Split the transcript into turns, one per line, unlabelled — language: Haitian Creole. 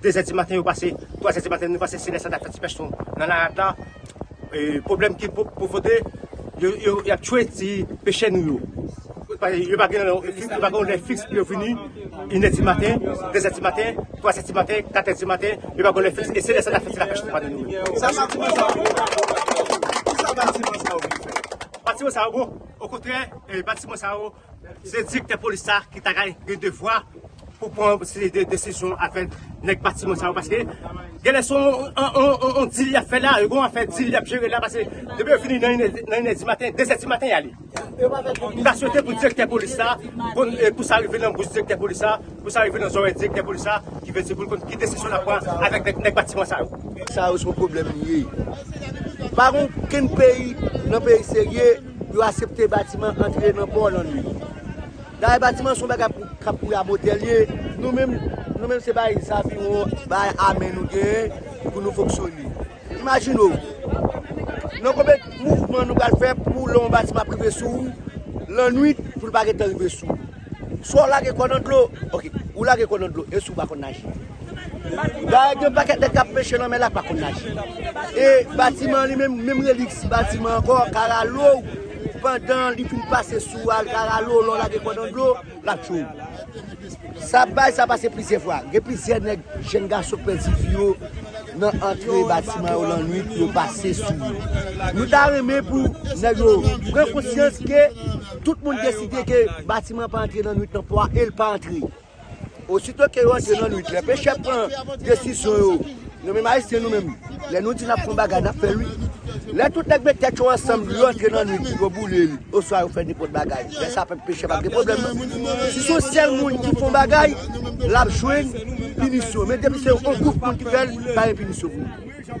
2 zè di maten yo pase, 3 zè di maten yo pase se lè sa ta fè ti pèch son nan larad la, pwoblèm ki pwovoke y ap tchwe ti pechè nou yo. Yo pa gen yon lè fiks pou yo vini, inè di maten, 2 zè di maten, 3 zè di maten, 4 zè di maten, yo pa gen yon lè fiks e se lè sa ta fè ti lapèch nan panye nou yo. Sa batiman sa yo bon? Kisa batiman sa yo vin fè? Batiman sa yo bon, okontrè batiman sa yo Se direktè polis sa ki ta gen devwa pou pran yon seri de desizyon avèk nèg batiman sa yo paske genlè se yon dil y ap fè la, gen yon afè dil y ap jere la paske depi yo vini nan inè di maten, dezè di maten y ale. M ta swete pou direktè polis sa, pou sa rive nan bouch direktè polis sa, pou sa rive nan zòrèy direktè polis sa ki vle di pou l konn ki desizyon l ap pran avèk nèg batiman sa yo. Sa yo se yon pwoblèm
li ye. Pa gen okenn peyi nan peyi serye. Yo asepte batiman antre nan pò lannwit. Dayè batiman son bagay pou kap pou Rabotè liye. Nou menm nou menm se bay zaviwon bay ame nou genyen pou nou fonksyone. Imajine w nan konbyen mouvman nou pral fè pou lè yon batiman ap rive sou ou lannwit pou l pa gentan rive sou ou. Swa w lage kò w nan dlo, ok, ou lage kò w nan dlo e si w pa konn naje. Dayè gen yon pakèt nèg k ap peche lanmè la k pa konn naje. E batiman an li menm, menm relik si batiman ankò, karalou w, pandan li fin pase sou w al karalou w lè w lage kò w nan dlo, l ap tchou w. Sa bay sa pase plizyè fwa. Gen plizyè nèg, jenn gason k pèdi vi yo nan antre batiman yo lannuit pou yo pase sou yo. Nou ta renmen pou nèg yo pran konsyans ke. Tout moun deside ke batiman pa antre nan nwit nan pò a, e l pa antre. Osito ke yo antre nan nwit, lè pechè pran desizyon yo, nou menm Ayisyen nou menm, lè nou di n ap fè yon bagay, n ap fè l wi. Lè tout nèg met tèt yo ansanm, yo antre nan nwit, yo boule l, oswa yo fè nenpòt bagay, lè sa a pechè pa p gen pwoblèm nan. Si se yon sèl moun ki fè yon bagay, l ap jwenn pinisyon. Men depi se yon gwoup moun ki fè l, pa gen pinisyon pou li.